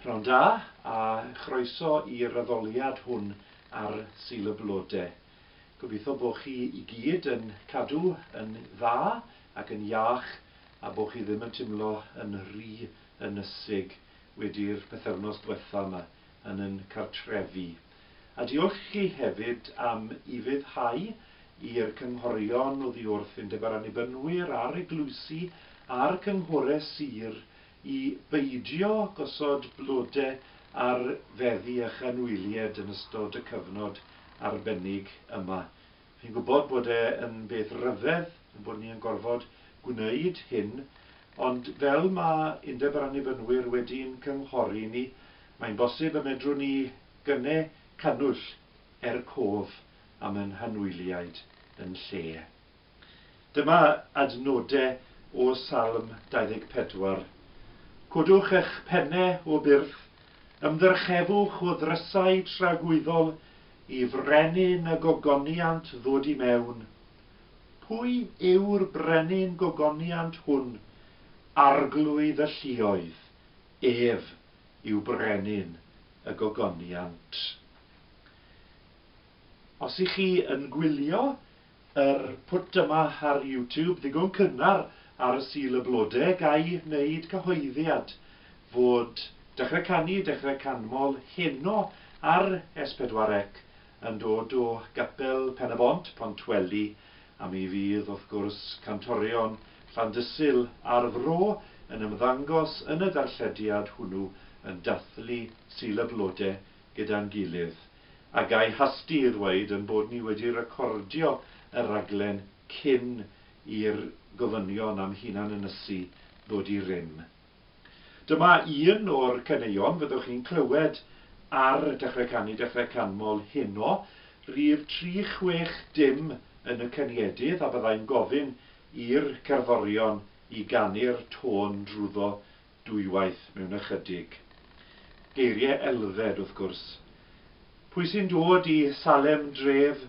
Pnawn da, a chroeso i'r addoliad hwn ar Sul y Blode. Gobeithio bo chi i gyd yn cadw yn dda ac yn iach a bo chi ddim yn timlo yn rhy ynysig wedi'r pythefnos dwetha ma yn yn cartrefi. A diolch i chi hefyd am ufuddhau i'r cynghorion oddi wrth Undeb yr Annibynwyr a'r Eglwysi a'r Cynghore Sir i beidio gosod blode ar feddi a chynwylied yn ystod y cyfnod arbennig yma. Fi'n gwybod bod e yn beth ryfedd ein bod ni yn gorfod gwneud hyn, ond fel mae Undeb yr Annibynwyr wedi'n cynghori ni, mae'n bosib y medrwn ni gyne cannwyll er cof am ein hanwyliaid yn lle. Dyma adnodau o Salm 24. Codwch eich penne, o byrth, ymddyrchefwch o ddrysau tragwyddol i frenin y gogoniant ddod i mewn. Pwy yw'r brenin gogoniant hwn, arglwydd y lluoedd? Ef yw brenin y gogoniant. Os ych chi yn gwylio Yr pwt yma ar YouTube ddigon cynnar ar y Sul y Blode ga'i wneud cyhoeddiad fod Dechrau Canu, Dechrau Canmol heno ar S4C yn dod o Gapel Pen-y-bont, Pontweli, a mi fydd wrth gwrs Cantorion Llandysul a'r Fro yn ymddangos yn y darllediad hwnnw yn dathlu Sul y Blode gyda'n gilydd. A ga i hasti i ddweud ein bod ni wedi recordio y rhaglen cyn i'r gofynion am hunan-ynysu ddod i rym. Dyma un o'r caneuon fyddwch chi'n clywed ar Dechrau Canu Dechrau Canmol heno. Rhif tri chwech dim yn y caniedydd a byddai'n gofyn i'r cerddorion i ganu'r tôn drwyddo dwywaith mewn ychydig. Geirie elfed, wrth gwrs. Pwy sy'n dod i Salem dref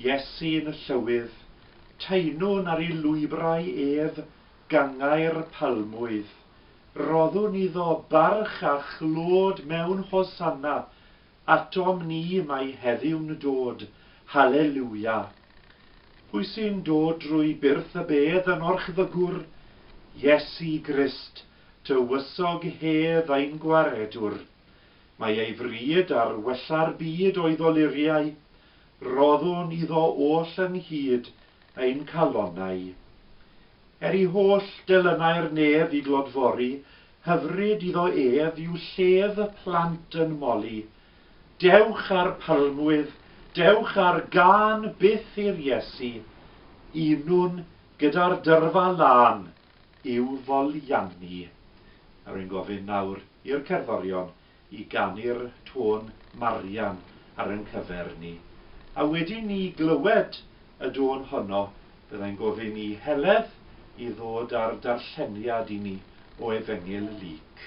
Iesu yn y Llywydd, taenwn ar ei lwybrau ef, gangau'r palmwydd. Roddwn iddo barch a chlod mewn Hosanna, Atom ni mae heddiw'n dod, Hallelujah! Pwy sy'n dod drwy byrth y bedd yn orchfygwr? Iesu Grist, tywysog hedd ein Gwaredwr. Mae ei fryd ar wella'r byd o'i ddoluriau, roddwn iddo oll ynghyd ein calonnau. Er i holl delynau'r nef i glodfori, Hyfryd iddo ef yw llef y plant yn moli, Dewch â'r palmwydd, dewch â'r gân byth i'r Iesu, Unwn gyda'r dyrfa lân i'w foliannu. A rwy'n gofyn nawr i'r cerddorion i ganu'r tôn Marian ar ein cyfer ni, a wedyn ni glywed y dôn honno, byddai'n gofyn i Heledd i ddod â'r darlleniad i ni o Efengyl Luc.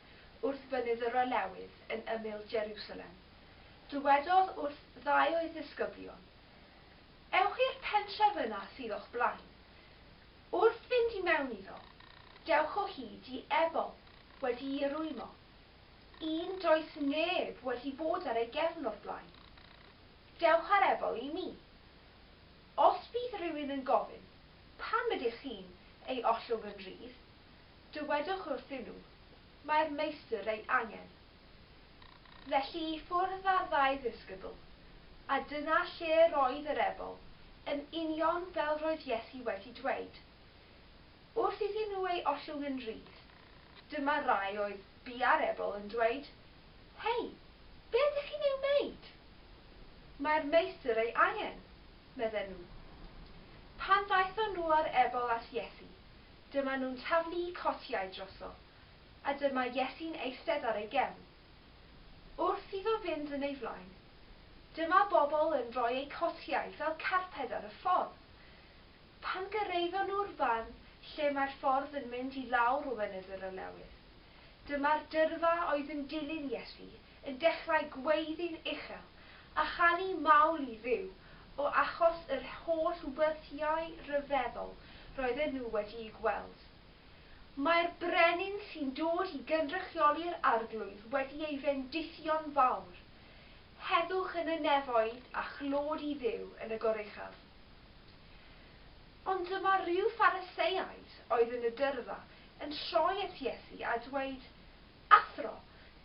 wrth fynydd yr Olewydd yn ymyl Jerusalem, dywedodd wrth ddau o'i ddisgyblion, Ewch i'r pentref yna sydd o'ch blaen. Wrth fynd i mewn iddo, dewch o hyd i ebol wedi'i rwymo, un does neb wedi bod ar ei gefn o'r blaen. Dewch â'r ebol i mi. Os bydd rhywun yn gofyn, 'Pam ydych chi'n ei ollwng yn rhydd? Dywedwch wrthyn nhw, Mae'r Meistr ei angen. Felly i ffwrdd â'r ddau ddisgybl, a dyna lle yr oedd yr ebol, yn union fel roedd Iesu wedi dweud. Wrth iddyn nhw ei ollwng yn rydd, dyma rai oedd bia'r ebol yn dweud, Hei, be ydych chi'n ei wneud? Mae'r Meistr ei angen, medden nhw. Pan ddaethon nhw â'r ebol at Iesu, Dyma nhw'n taflu'u cotiau droso, a dyma Iesu'n eistedd ar ei gefn. Wrth iddo fynd yn ei flaen, dyma bobl yn rhoi eu cotiau fel carped ar y ffordd. Pan gyrraeddon nhw'r fan lle mae'r ffordd yn mynd i lawr o Fynydd yr Olewydd, dyma'r dyrfa oedd yn dilyn Iesu yn dechrau gweiddi'n uchel a chanu mawl i Dduw o achos yr holl weddïau rhyfeddol roedden nhw wedi'u gweld. Mae'r brenin sy'n dod i gynrychioli'r arglwydd wedi ei fendithio'n fawr, Heddwch yn y nefoedd a chlod i Dduw yn y goruchaf. Ond dyma rhyw Phariseaid oedd yn y dyrfa yn troi at Iesu a dweud, Athro,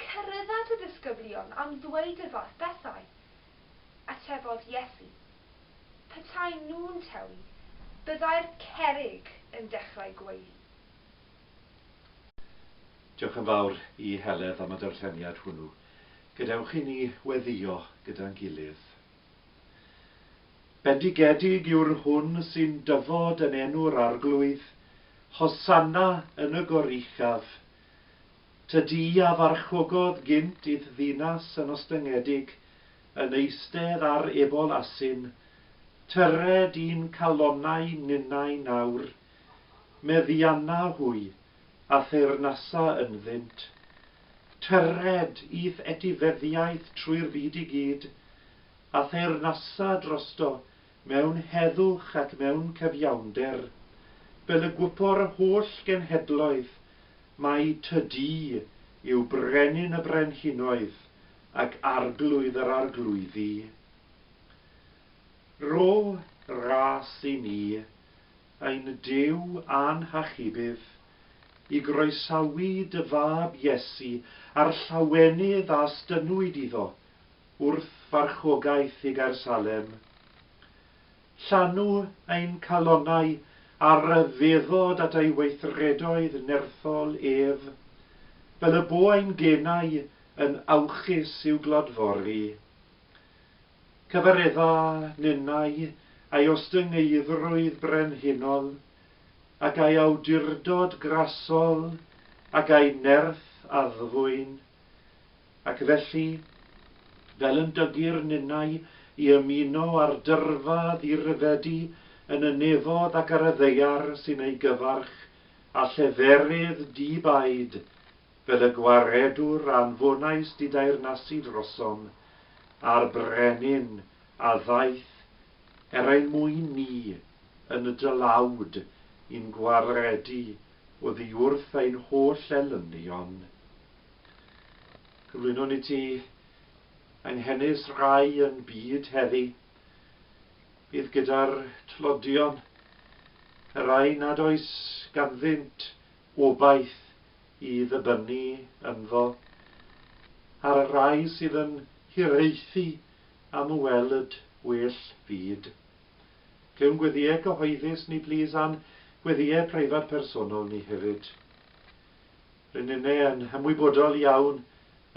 Cyrraedda dy ddisgyblion am ddweud y fath bethau. Atebodd Iesu, Petaen nhw'n tewi, byddai'r cerrig yn dechrau gweiddi. Diolch yn fawr i Heledd am y darlleniad hwnnw. Gadewch i ni weddïo gyda'n gilydd. Bendigedig yw'r hwn sy'n dyfod yn enw'r Arglwydd, Hosanna yn y goruchaf, Tŷ du a farchgogodd gynt i'th ddinas yn ostyngedig, yn eistedd ar ebol asyn, tyred i'n calonnau ninnau nawr. Meddianna hwy, a theyrnasa ynddynt. Tyred i'th etifeddiaeth trwy'r byd i gyd, a theyrnasa drosto mewn heddwch ac mewn cyfiawnder, fel y gwybor yr holl genhedloedd, mai Ty Dŷ yw Brenin y brenhinoedd ac Arglwydd yr arglwyddi. Ro ras i ni, ein Duw a'n Hachubydd, i groesawu Dy Fab Iesu a'r llawenydd a 'stynnwyd iddo, Wrth farchogaeth i Gaer Salem. Llanw ein calonnau a ryfeddod at ei weithredoedd nerthol ef, fel y bo ein genau yn awchus i'w glodfori. Cyfaredda ninnau a'i ostyngeiddrwydd brenhinol, ac a'i awdurdod grasol, ac a'i nerth addfwyn. Ac felly, fel yn dygu'r ninnau i ymuno â'r dyrfa ddiryfedu yn y nefoedd ac ar y ddaear sy'n ei gyfarch, a lleferydd di-baid fel y gwaredwr anfonais dideyrnasu drosom, a'r brenin a ddaeth er ein mwyn ni yn y dylawd i'n gwaredu Oddiwrth ein holl elynion, cyflwynon i ti, Anghenus Rai yn byd heddi, bydd gyda'r tlodion, y rai nad oes ganddynt obaith i ddibynnu ynddo, a'r rai sydd yn hiraethu am welyd well fyd. Clywn gweddïau cyhoeddus ni plîs a'n gweddïau preifat personol ni hefyd. Ry'n ni yn ymwybodol iawn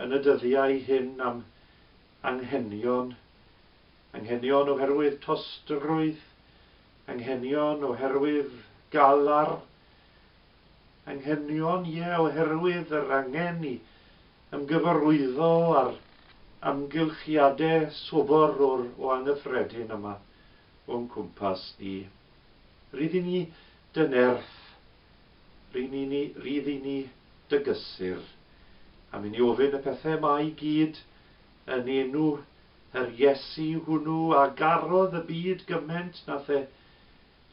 yn y dyddiau hyn am anghenion, anghenion oherwydd tostrwydd, anghenion oherwydd galar, anghenion, ie, oherwydd yr angen i ymgyfarwyddo â'r amgylchiadau sobor o'r o angyffredin yma o'n cwmpas ni. Rydyn ni dy nerth, rŷn ni ni, rydyn ni dy gysur, am i ni ofyn y pethau yma i gyd yn enw yr Iesu hwnnw a garodd y byd gyment na the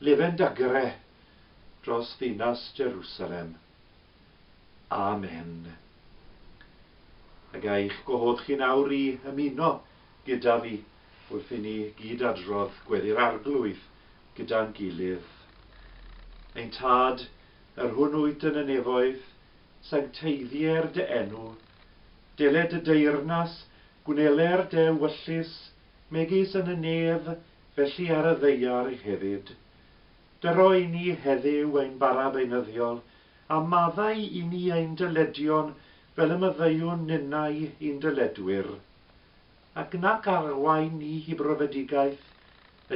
lefen dagre dros ddinas Jerusalem. Amen. Ac a'ch gwahodd chi nawr i ymuno gyda fi wrth i ni gyd adrodd Gweddi'r Arglwydd gyda'n gilydd. Ein Tad, yr hwn wyt yn y nefoedd, sancteiddier dy enw. Dele dy deyrnas, gwneler dy ewyllys, megis yn y nef, felly ar y ddaear hefyd. Dyroi ni heddyw ein bara beunyddiol, a maddau i ni ein dyledion fel y maddeuwn ninnau i'n dyledwyr. Ac nac arwain ni i brofedigaeth,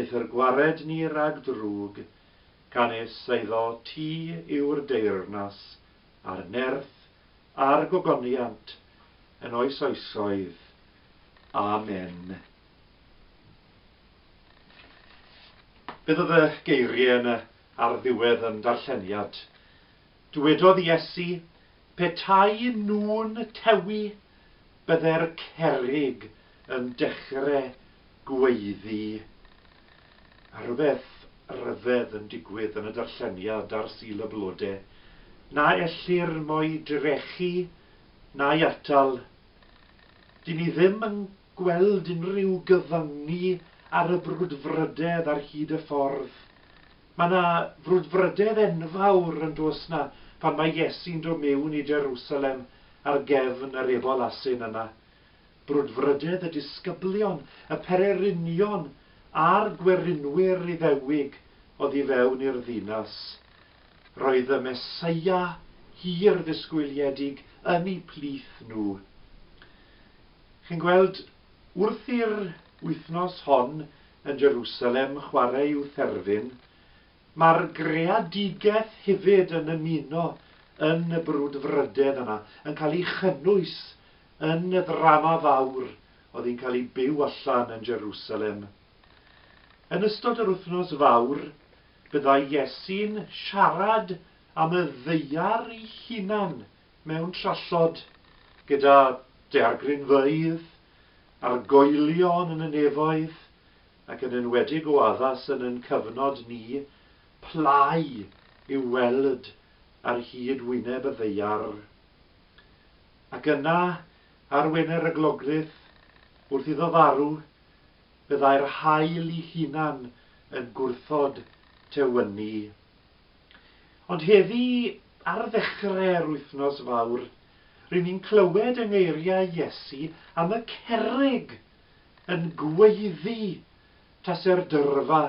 eithr gwared ni rag drwg, canys eiddo ti yw'r deyrnas, a'r nerth, a'r gogoniant, yn oes oesoedd. Amen. Beth oedd y geiriau yna ar ddiwedd yn darlleniad? Dywedodd Iesu, Petai nhw'n tewi, byddai'r cerrig yn dechrau gweiddi. A rhywbeth ryfedd yn digwydd yn y darlleniad ar Sul y Blodau. Na ellir mo'i drechu, na'i atal. Dyn ni ddim yn gweld unrhyw gyfyngu ar y brwdfrydedd ar hyd y ffordd. Mae 'na frwdfrydedd enfawr, yn does 'na, pan mae Iesu'n dod mewn i Jerusalem ar gefn yr Ebol Asyn yna. Brwdfrydedd y disgyblion, y pererinion a'r gwerinwyr Iddewig oddi fewn i'r ddinas. Roedd y Meseia hir-ddisgwyliedig yn 'u plith nhw. Chi'n gweld, wrth i'r wythnos hon yn Jerusalem chwarae i'w therfyn, mae'r greadigaeth hefyd yn ymuno yn y brwdfrydedd yna, yn cael ei chynnwys yn y ddrama fawr oedd yn cael ei byw allan yn Jerusalem. Yn ystod yr wythnos fawr, byddai Iesu'n siarad am y ddaear ei hunan mewn trallod gyda daeargrynfeydd, argoelion yn y nefoedd, ac yn enwedig o addas yn yn cyfnod ni, plâu i'w weld ar hyd wyneb y ddaear. Ac yna, ar wener y glogryth, wrth iddo farw, byddai'r haul 'i hunan yn gwrthod tewyni. Ond heddi, ar ddechre'r Wythnos Fawr, ry'n ni'n clywed yng ngeiriau Iesu am y cerrig yn gweiddi tase'r dyrfa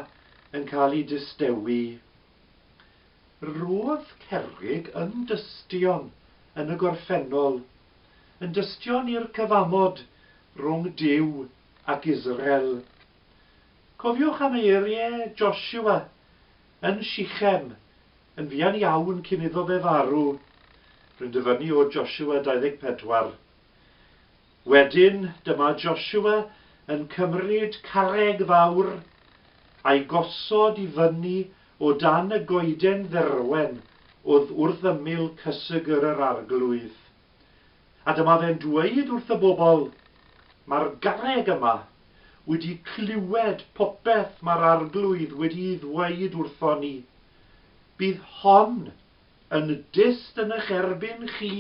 yn cael ei distewi. Roedd cerrig yn dystion yn y gorffennol, yn dystion i'r cyfamod rhwng Duw ac Israel. Cofiwch am eiriau Joshua Yn Sichem, yn fuan iawn cyn iddo fe farw, rwy'n dyfynnu o Josua 24. Wedyn, dyma Josua yn cymryd carreg fawr, a'i gosod i fyny o dan y goeden dderwen oedd wrth ymyl cysegr yr arglwydd. A dyma fe'n dweud wrth y bobl, Mae'r garreg yma wedi clywed popeth mae'r Arglwydd wedi'i ddweud wrthon ni. Bydd hon yn dyst yn eich erbyn chi,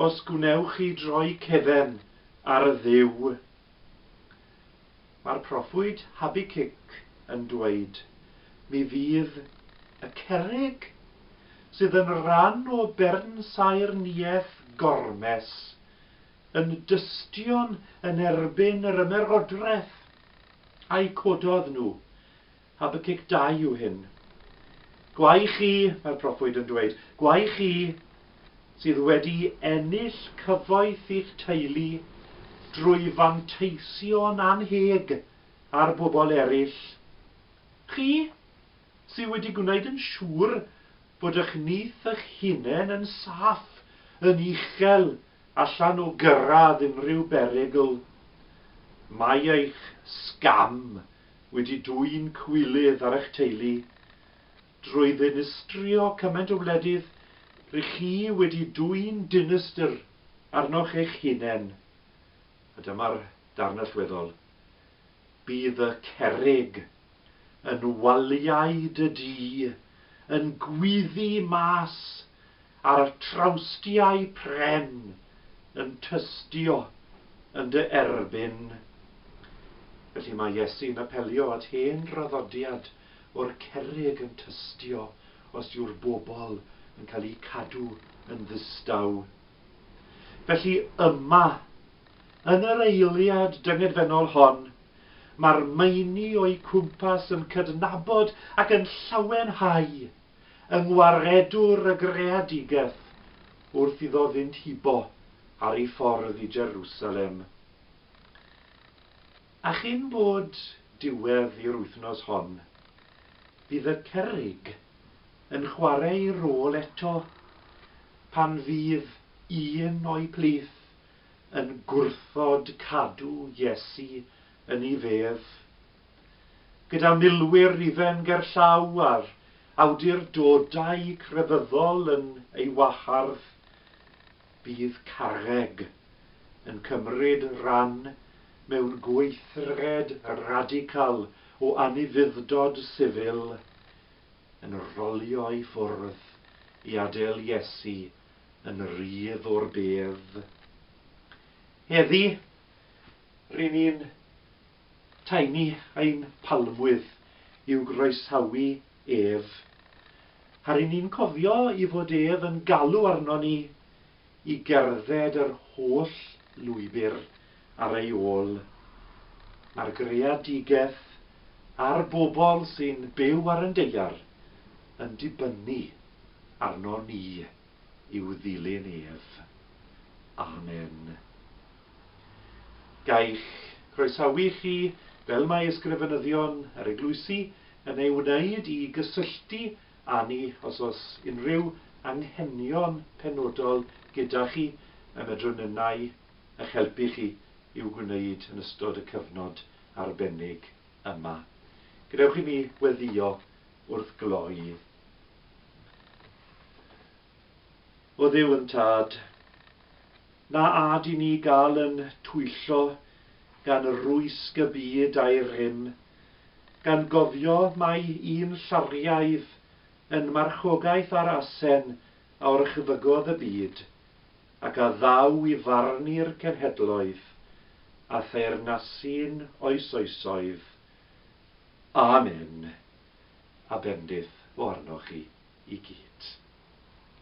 os gwnewch chi droi cefn ar y Dduw. Mae'r proffwyd Habacuc yn dweud, Mi fydd y cerrig, sydd yn ran o bernsaerniaeth Gormes, yn dystion yn erbyn yr ymerodraeth a'u cododd nhw, Habacuc ii yw hyn. Gwae chi, mae'r proffwyd yn dweud, gwae chi sydd wedi ennill cyfoeth i'ch teulu drwy fanteisio'n annheg ar bobl eraill. Chi sydd wedi gwneud yn siŵr bod eich nyth eich hunain yn saff, yn uchel allan o gyrraedd unrhyw berygl. Mae eich sgam wedi dwyn cywilydd ar eich teulu drwy ddinistrio cymaint o wledydd ry' chi wedi dwyn dinistr arnoch eich hunen, a dyma'r darn allweddol, bydd y cerrig yn waliau dy du yn gwyddu mas A'r trawstiau pren yn tystio yn dy erbyn. Felly mae Iesu'n apelio at hen draddodiad o'r cerrig yn tystio os yw'r bobl yn cael eu cadw yn ddistaw. Felly yma, yn yr eiliad dyngedfennol hon, mae'r meini o'u cwmpas yn cydnabod ac yn llawenhau yng ngwaredwr y greadigaeth wrth iddo fynd hibo ar ei ffordd i Jerusalem. A chyn bod diwedd i'r wythnos hon, bydd y cerrig yn chwarae ei rôl eto pan fydd un o'i plith yn gwrthod cadw Iesu yn ei fedd. gyda milwyr Rufen gerllaw a'r awdurdodau crefyddol yn ei wahardd, bydd Carreg yn cymryd rhan mewn gweithred radical o anufudd-dod sifil yn rolio i ffwrdd i adael Iesu yn rydd o'r bedd. Heddi, ry'n ni'n Tynnu ein palmwydd i'w groesawu ef. A ry'n ni'n cofio i fod ef yn galw arnon ni i gerdded yr holl lwybr ar ei ôl. Mae'r greadigaeth a'r bobl sy'n byw ar yn deiar yn dibynnu arnon ni i'w ddilyn ef. Amen. Gai'ch croesawu chi, fel mae Ysgrifenyddion yr Eglwysi yn ei wneud, i gysylltu â ni os oes unrhyw anghenion penodol gyda chi y medrwn ninnau eich helpu chi i'w gwneud yn ystod y cyfnod arbennig yma. Gadewch i mi weddïo wrth gloi. O Dduw yn Tad, Na ad i ni gael yn twyllo gan rwysg y byd a'i rym, gan gofio mai un llariaidd yn marchogaeth ar asen a orchfygodd y byd, ac a ddaw i farnu'r cenhedloedd, a theyrnasu'n oesoesoedd. Amen. A bendith o arnoch chi i gyd.